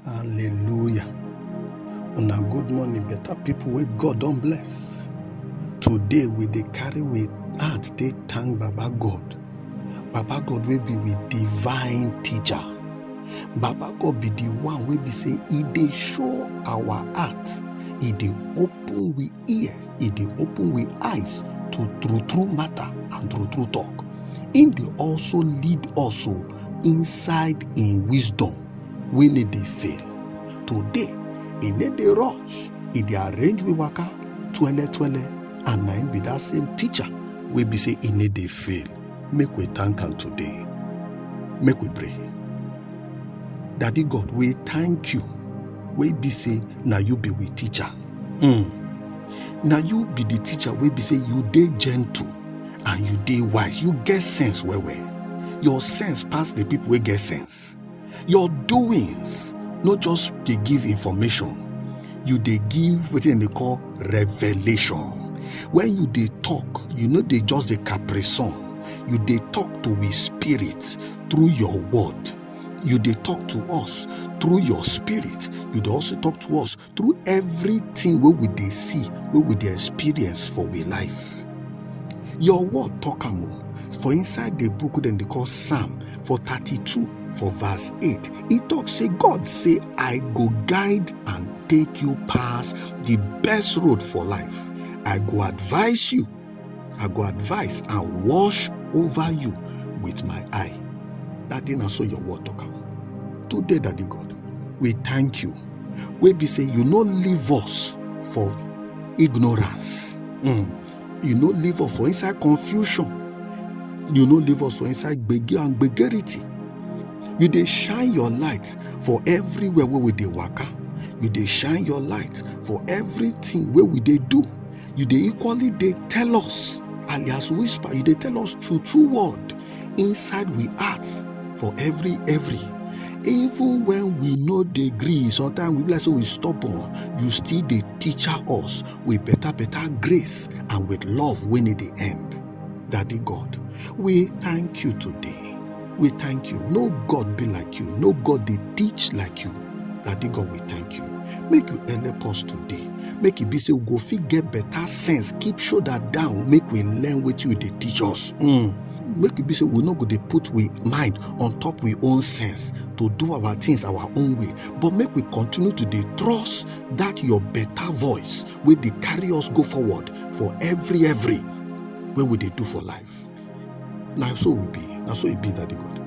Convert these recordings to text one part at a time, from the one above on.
Hallelujah. Una good morning, better people wey God don bless. Today we dey carry we heart take thank Baba God. Baba God wey be we divine teacher. Baba God be the one wey be say e dey show our heart, e dey open we ears, e dey open we eyes to true true matter and true true talk. Im dey also lead us o inside im wisdom. wey no dey fail today e no dey rush e dey arrange we waka twele twele and na im be that same teacher wey be say e no dey fail make we thank am today make we pray daddy god we thank you wey be say na you be we teacher mm. na you be the teacher wey be say you dey gentle and you dey wise you get sense well well your sense pass the people wey get sense Yes, your doings no just dey give information, you dey give wetin dem dey call revelation. When you dey talk, you no dey just dey caprison, you dey talk to his spirit through your word. You dey talk to us through your spirit. You dey also talk to us through everything wey we dey see wey we dey experience for we life your word talk am o for inside the book dem dey call psalm for 32 for verse 8 e talk say god say i go guide and take you pass the best road for life i go advise you I go advise and wash over you with my eye. That did not so your word talk. Today, Daddy God, we thank you. We be say you no leave us for ignorance. Mm. You no leave us for inside confusion. You no leave us for inside gbege and gbegerity. You dey shine your light for everywhere where we dey waka. You dey shine your light for everything where we dey do. you dey equally dey tell us alias whisper you dey tell us true true word inside we heart for every every even when we no dey gree sometimes we be like say we stubborn you still dey teach us with better better grace and with love wey no dey end daddy god we thank you today we thank you no god be like you no god dey teach like you daddy god we thank you make you help us today make e be say we go fit get better sense keep shoulder down make we learn wetin you dey teach us mm. make e be say we no go dey put we mind on top we own sense to do our things our own way but make we continue to dey trust that your better voice wey dey carry us go forward for every every wey we dey do for life na so we be na so e be daddy god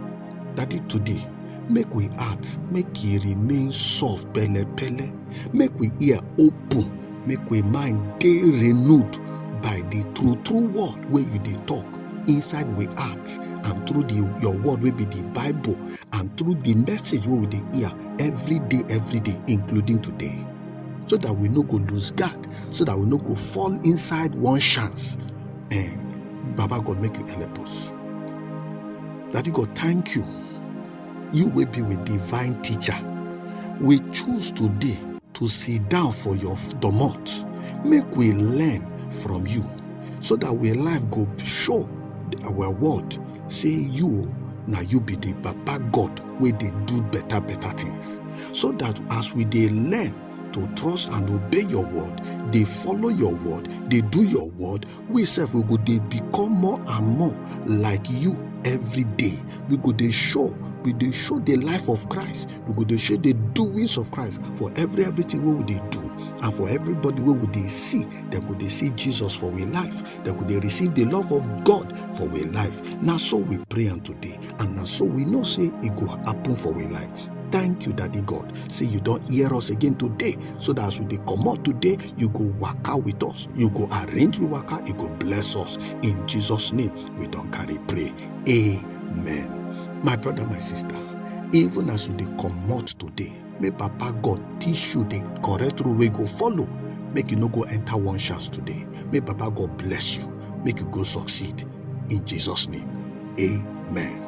daddy today make we heart make e remain soft pele pele make we ear open make we mind dey renewed by the true true word wey you dey talk inside we heart and through the your word wey be the bible and through the message wey we dey hear every day every day including today so that we no go lose guard so that we no go fall inside one chance Eh, Baba God make you help us. Daddy God, thank you. You will be with divine teacher. We choose today to sit down for your domot. Make we learn from you so that we life go show our world say you na you be the baba god wey dey do better better things so that as we dey learn to trust and obey your word dey follow your word dey do your word we sef we go dey become more and more like you every day we go dey show we dey show the life of christ we go dey show the doings of christ for every everything wey we dey do and for everybody wey we dey see dem go dey see jesus for we life dem go dey receive the love of god for we life na so we pray am today and na so we know say e go happen for we life thank you daddy god say you don hear us again today so that as we dey comot today you go waka with us you go arrange we waka you go bless us in jesus name we don carry pray amen my brother my sister even as you dey comot today may papa god teach you the correct rule wey go follow make you no go enter one chance today may papa god bless you make you go succeed in jesus name amen.